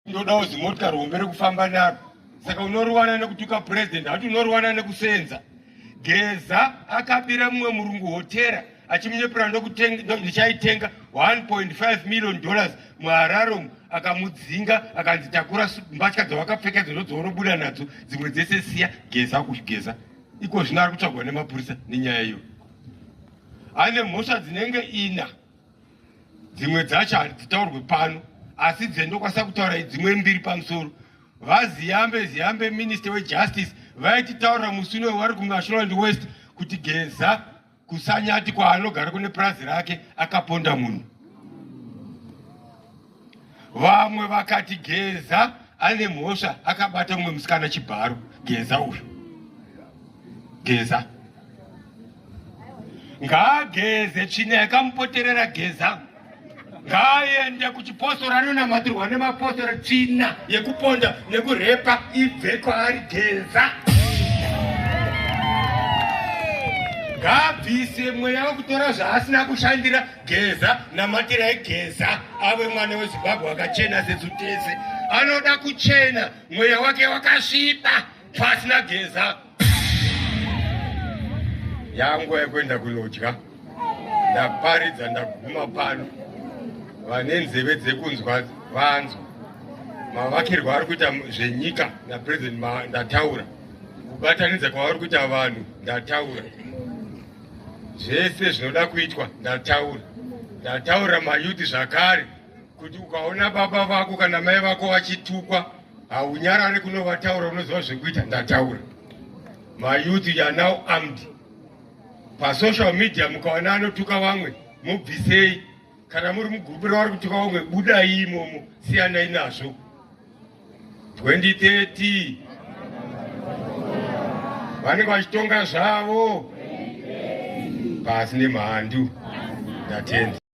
ndodawo zimota rombe rekufamba naro saka unoriwana nekutuka president hati unoriwana nekusenza geza akabira mumwe murungu hotera achimunyepera ndichaitenga 1.5 million dollars muhararom akamudzinga akanzi takura mbatya dzawakapfeka idzo ndodzaunobuda nadzo dzimwe dzese siya geza kugeza iko zvino ari kutsvagwa nemapurisa nenyaya iyo ane mhosva dzinenge ina dzimwe dzacho hadzitaurwe pano asi dzendokwanisa kutaura idzimwe mbiri pamusoro vaziyambe ziyambe minister wejustice vaititaurira musi uno wari kumasholand west kuti geza kusanyati kwaanogara kune purazi rake akaponda munhu vamwe vakati geza ane mhosva akabata umwe musikana chibharo geza uyu geza ngaageze tsvina yakamupoterera geza ngaaende kuchipostora anonamatirwa nemapostora tsvina yekuponda nekurepa ibve kwaari geza ngaabvise mweya wekutora zvaasina kushandira geza namatirai geza ave mwana wezimbabwe akachena sesu tese anoda kuchena mweya wake wakasviba pasina geza yanguva yekuenda kunodya ndaparidza ndaguma pano vane nzeve dzekunzwa vanzwa mavakirwa ari kuita zvenyika napresident ndataura kubatanidza kwavari kuita vanhu ndataura zvese zvinoda kuitwa ndataura ndataura mayuti zvakare kuti ukaona baba vako kana mai vako vachitukwa haunyarare kunovataura unoziva zvekuita ndataura mayuti ya now armed pasocial media mukaona anotuka vamwe mubvisei kana muri mugurupu ravari kuti vaumwe budai imomo siyanai nazvo 2030 vanenge vachitonga zvavo pasi nemhandu ndatenda